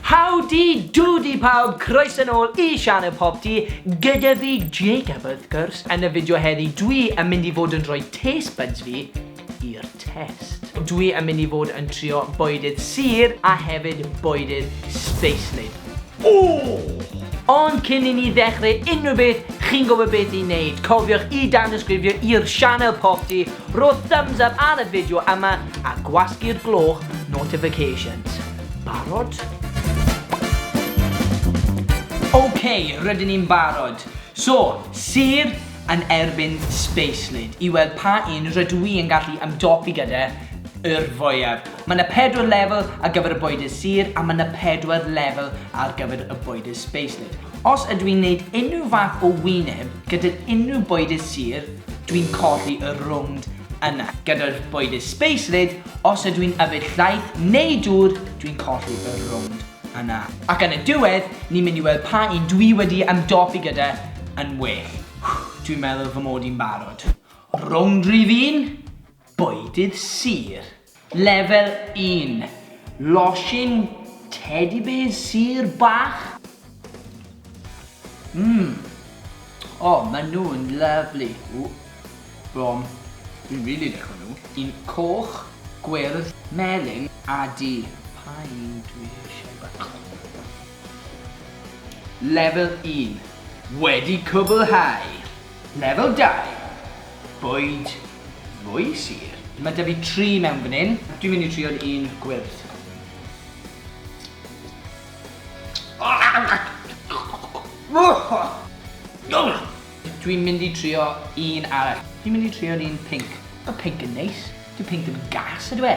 Howdy doody pawb, croeso nôl i Sianel Pop Tea, gyda fi Jacob wrth gwrs. Yn y fideo heddi dwi yn mynd i fod yn rhoi taste buds fi i'r test. Dwi yn mynd i fod yn trio bwydydd sur a hefyd bwydydd sbeislyd. Ond cyn i ni ddechrau unrhyw beth, chi'n gwybod beth i wneud. Cofiwch i danysgrifio i'r Sianel Pop Tea Rho thumbs up ar y fideo yma a gwasgu'r gloch notifications. Barod? Ok, rydyn ni'n barod. So, sêr yn erbyn Spacelid i weld pa un rydw i yn gallu ymdopi gyda yw'r fwyaf. Mae yna pedwar lefel ar gyfer y bwydydd sêr a mae yna pedwar lefel ar gyfer y bwydydd Spacelid. Os ydw i'n neud unrhyw fath o wyneb gydag unrhyw bwydydd sur, dwi'n colli y rownd yna. Gyda'r bwydydd space lid, os ydw i'n yfed llaeth neu dŵr, dwi'n colli y rownd yna. Ac yn y diwedd, ni'n mynd i weld pa un dwi wedi ymdopi gyda yn well. Dwi'n meddwl fy mod i'n barod. Rownd rhif un. Bwydydd Sir, Lefel un, Losin Teddy Bears Sir bach? Mmm! O, maen nhw'n lyfli! Ww! Brom! Dwi'n rili lico nhw! Un coch, gwyrdd, melyn a du. Pa un dwi eisiau bach? Lefel un, Wedi cwblhau! Lefel dau. Bwyd fwy sur. Mae 'da fi tri mewn fan hyn. Dwi'n mynd i trio'r un gwyrdd. Dwi'n mynd i trio un arall. Dwi'n mynd i trio'r un pinc. Mae pinc yn neis. Dyw pinc ddim yn gas, yndyw e?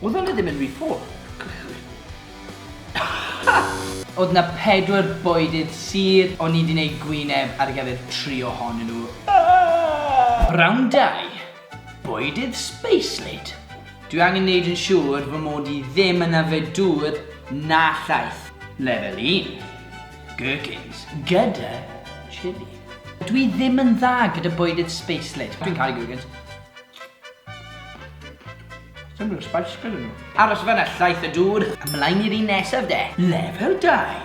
Oedd hwnna ddim yn rhy ffôl. Oedd na pedwar boedydd sur, o'n i di neud gwyneb ar gyfer tri ohonyn nhw. Round dau, boedydd spacelate. Dwi angen neud yn siŵr fy mod i ddim yn yfed dŵr na llaeth. Lefel un, gherkins gyda chili. Dwi ddim yn dda gyda boedydd spacelate. Dwi'n caru gherkins. Sdim rhyw spice gyda nhw. Aros fanna llaeth y dŵr. Ymlaen i'r un nesaf de. Lefel dau.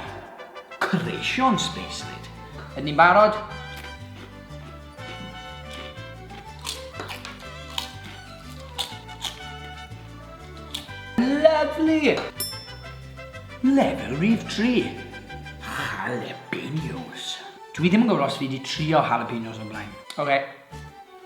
Creision Spacelid. Ydyn ni'n barod? Lyfli! Lefel rif tri. Jalapenos. Dwi ddim yn gwybod os fi wedi trio jalapenos o'r blaen. Oce.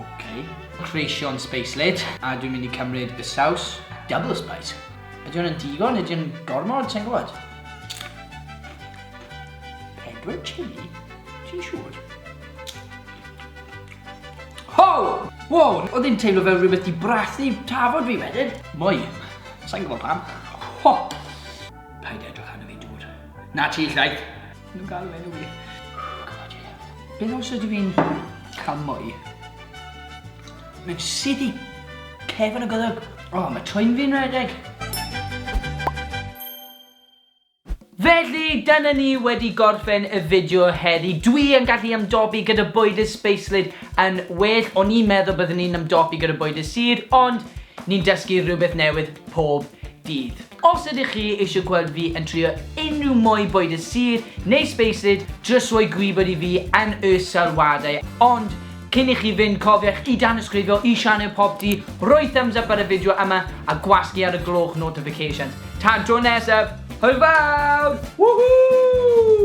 Ok, creision spacelid. A dwi'n mynd i cymryd y saws. Double spice. Ydy hwn yn digon? Ydy hwn gormod? Sa'n gwybod. Pedwar chili? Ti'n siŵr? Ho! Wow! Oedd hi'n teimlo fel rhywbeth di brathu tafod fi wedyn. Mwy. Sa'n gwybod pam. Ho! Paid edrych arno fi, dŵr. Na ti, llaeth. Nhw'n galw enw fi. Beth os ydw i'n cael mwy? Mae'n sydd i cefn y goddwg. O, oh, mae twyn fi'n redeg. Felly, dyna ni wedi gorffen y fideo heddi. Dwi yn gallu ymdopi gyda bwyd y sbeislyd yn well. O'n i'n meddwl byddwn ni'n ymdopi gyda bwyd y sir, ond ni'n dysgu rhywbeth newydd pob dydd. Os ydych chi eisiau gweld fi yn trio unrhyw mwy bwyd y sir neu spaced, jyst rhoi gwybod i fi yn y sylwadau. Ond cyn i chi fynd cofiwch i danysgrifio i sianel Popty, rhoi thumbs up ar y fideo yma a gwasgu ar y gloch notifications. Tan tro nesaf, hwyl fawr! Woohoo!